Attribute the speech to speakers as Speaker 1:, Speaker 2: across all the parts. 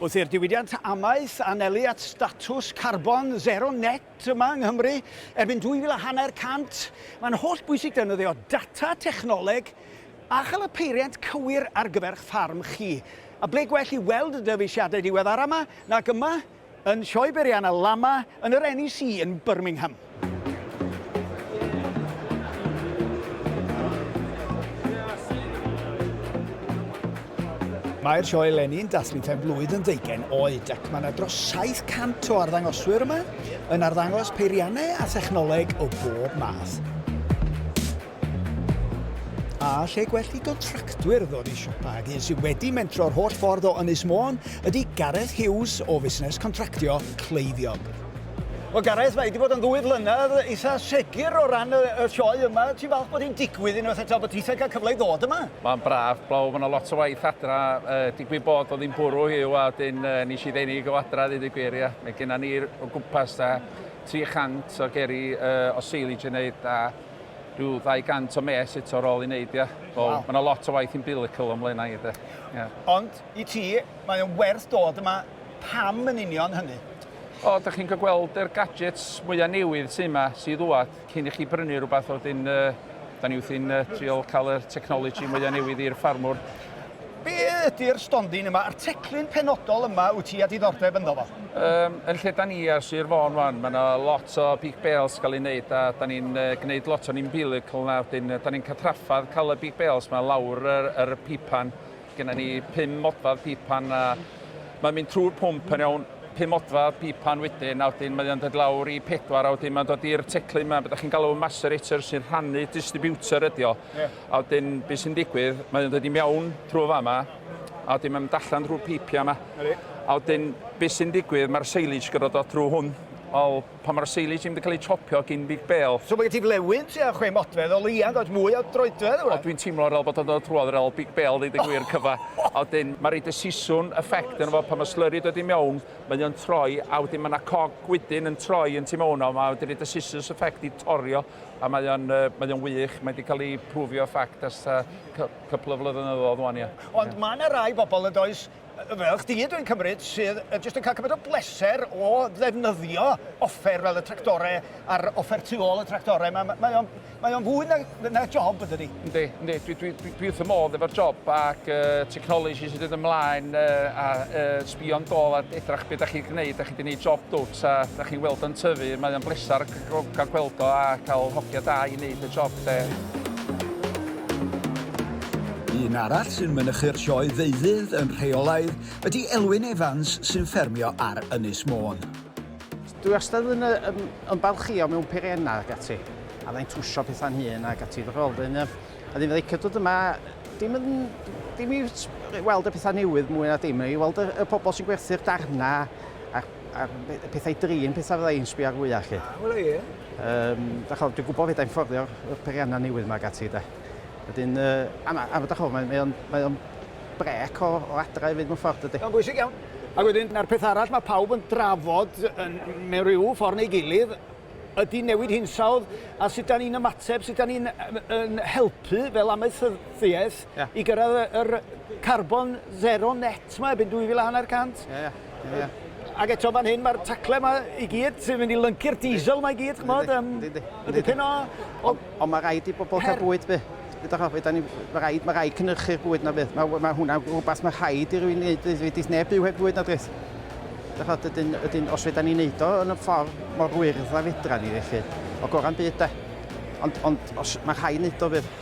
Speaker 1: Wrth i'r diwydiant amaeth anelu at statws carbon zero net yma yng Nghymru erbyn 2000 a hanner cant, mae'n holl bwysig defnyddio data, technoleg a chael y peiriant cywir ar gyfer'ch ffarm chi. A ble gwell i weld y dyfeisiadau diweddara yma nag yma yn Sioe Beirianna Lama yn yr NEC yn Birmingham. Mae'r sioe eleni yn dathlu pen blwydd yn ddeugain oed ac mae yna dros 700 o arddangoswyr yma yn arddangos peiriannau a thechnoleg o bob math. A lle gwell i gontractwyr ddod i siopa ag un sydd wedi mentro'r holl ffordd o Ynys Môn ydy Gareth Hughes o fusnes contractio cleifion. Wel Gareth, mae wedi bod yn ddwy flynedd eitha segur o ran y, y sioe yma. Ti'n falch bod hi'n digwydd unwaith eto, bod ti'n cael cyfle i ddod yma? Mae'n braf, blaw, mae yna lot o waith adra. E, digwydd bod o ddim bwrw hiw, a dyn e, nes i ddenig o adra ddweud y gwir, ia. Mae gennym ni o gwmpas da 300 o geri e, o seilage yn neud, a Rhyw ddau gant o mes eto ar ôl ei wneud, ia. So, mae yna lot o waith umbilical o'n mlaenau i, de. Ia. Ond, i ti, mae o'n werth dod yma. Pam yn union hynny? O, da chi'n cael gweld yr gadgets mwyaf newydd sydd yma, sydd ddwad, cyn i chi brynu rhywbeth, wedyn, da ni wrthi'n trial cael y technology mwyaf newydd i'r ffarmwr. Be ydy'r stondin yma, a'r teclyn penodol yma wyt ti a diddordeb ynddo fo? Yym, yn lle da ni ar Sir Fôn wan, mae yna lot o big bales gael ei wneud, a da ni'n uh, gwneud lot o'n umbilical yna, wedyn da ni'n cael traffadd cael y big bales mae lawr yr, yr pipan. Genna ni pum modfad pipan a mae'n mynd trwy'r pwmp yn iawn, pum modfad pipan wedyn, a wedyn mae'n dod lawr i pedwar, a wedyn mae'n dod i'r teclyn yma, beth da chi'n galw macerator sy'n rhannu distributor ydi o. Yeah. A wedyn be sy'n digwydd, mae o'n dod i mewn trwy fama, a wedyn mae'n mynd allan drwy'r peipiau yma. A wedyn be sy'n digwydd, mae'r silage gyda dod trwy hwn. Wel, pan mae'r silage yn mynd i cael ei chopio gin Big Bale... So mae gen ti flewyn tua chwe modfedd o leiaf yn dod, mwy o droedfedd yma. O, dwi'n teimlo fel bod o'n dod trwodd yr ol Big Bale, ddeud y gwir, cyfa. A wedyn mae'n rhaid y siswn effect yn efo pan mae slurry yn dod i mewn, mae o'n troi, a wedyn mae yna cog gwydyn yn troi yn tu mewn o, mae wedi rhaid y sisws effect i torio A mae o'n yy mae o'n wych, mae 'di ca'l 'i prwfio fact ers ta cy- couple o flyddynyddod ŵan ia. Ond ma' 'na rai bobol yndoes, yy fel chdi dwi'n cymryd, sydd yy jyst yn ca'l cymaint o bleser o ddefnyddio offer fel y tractore a'r offer tu ôl y tractore 'ma, mae o'n mae o'n fwy na na job yndydi? Yndi, yndi, dwi dwi dwi dwi wrth fy modd efo'r job ac yy technology sy'n dod ymlaen yy a yy sbïo'n dôl a edrach be' 'dach chi 'di gneud, 'dach chi 'di neud job dwt a 'dach chi'n weld o'n tyfu, mae o'n bleser Drwg cael gweld o a cael hogia da i wneud y job 'de. Un arall sy'n mynychu'r sioe ddeuddydd yn rheolaidd ydy Elwyn Evans sy'n ffermio ar Ynys Môn. Dwi
Speaker 2: wastad yn, yn, yn balchio mewn peiriennau ac ati, a dda'n trwsio pethau'n hun ac ati fy rôl. Dyn, a ddim yn licio dod yma, dim yn, dim i weld y pethau newydd mwy na dim, i weld y, y pobl sy'n gwerthu'r darnau a'r a'r y pethau drin, pethau fydda i'n sbio ar fwyaf chi. Ah, wel ie. Um, da chi'n dwi'n gwybod fydda'n ffordio'r periannau newydd yma gati, da. Wedyn, uh, a, a, a da chi'n mae, mae o'n, mae on brec o, o adra i fynd mewn ffordd ydy. Mae'n bwysig iawn. Ac wedyn, na'r peth arall mae pawb yn drafod yn, mewn rhyw ffordd neu gilydd, ydy newid hinsawdd a sut da ni'n ymateb, sut da ni'n yn helpu fel amaethyddiaeth yeah. i gyrraedd yr carbon zero net mae erbyn 2000 Yeah, yeah. Yeah. Ac eto fan hyn, mae'r tacle yma i gyd sy'n mynd i lyncu'r diesel yma i gyd, chymod, um, y dipyn o... Ond on mae rhaid i bobl cael bwyd be. Ydych chi'n ni, mae rhaid, mae rhaid cynhyrchu'r bwyd na beth. Mae, mae hwnna rhywbeth mae rhaid i rywun wneud, wedi neb byw heb fwyd na dreth. Ydych chi'n ydyn, ydyn, os fydda ni'n neud o yn y ffordd mor wyrdd a fedra ni felly, o goran byd da. Ond, ond os, mae rhaid wneud o fydd.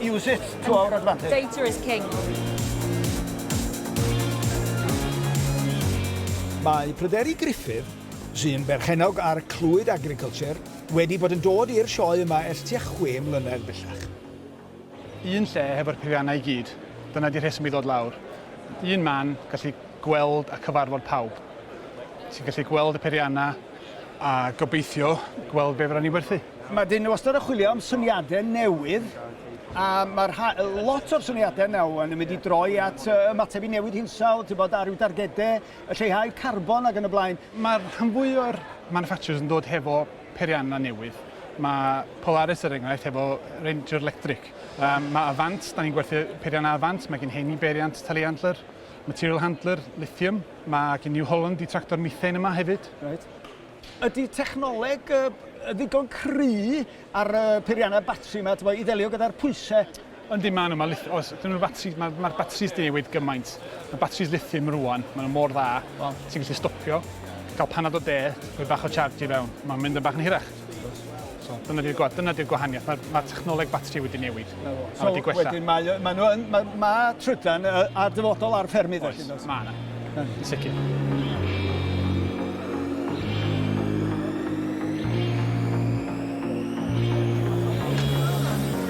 Speaker 1: Use it to our advantage. Data is king. Mae Pryderi Gruffydd, sy'n berchennog ar Clwyd Agriculture, wedi bod yn dod i'r sioe yma ers tua chwe mlynedd bellach.
Speaker 3: Un lle hefo'r peiriannau i gyd, dyna di'r rheswm i ddod lawr. Un man, gallu gweld a cyfarfod pawb. Ti'n gallu gweld y peiriannau, a gobeithio gweld be fydda ni werthu. Mae dyn nhw wastad yn
Speaker 1: chwilio am syniadau newydd a mae rha... lot o'r syniadau nawr yn mynd i droi at uh, ymateb i newid hinsawdd, ti'n bod, a rhyw dargedau, y lleihau carbon ac yn y blaen. Mae'r rhan fwy o'r
Speaker 3: manufacturers yn dod hefo perianna newydd. Mae Polaris er enghraifft hefo Ranger Electric. Um, mae Avant, da ni'n gwerthu perianna Avant, mae gen heini beriant telehandler, material handler, lithium, Mae gen New Holland y tractor methane yma hefyd. Reit.
Speaker 1: Ydy technoleg uh, ddigon cry ar uh, peiriannau batri yma i ddelio gyda'r pwysau? Yndi, maen nhw. Mae,
Speaker 3: os ydyn nhw'n batri, mae'r ma batris di newid gymaint. Mae batris lithium rwan, maen nhw mor dda. Wow. Ti'n gallu stopio, cael panad o de, rhoi bach o charge i fewn. Mae'n mynd yn bach yn hirach. So, dyna di'r dyna di'r gwahaniaeth. Mae'r ma technoleg batri wedi newid. So, a wedi gwella. Wedyn
Speaker 1: mae, mae, nhw yn, mae, mae
Speaker 3: trydan
Speaker 1: ar
Speaker 3: dyfodol
Speaker 1: ar ffermydd.
Speaker 3: Oes, mae
Speaker 1: yna. Yn sicr.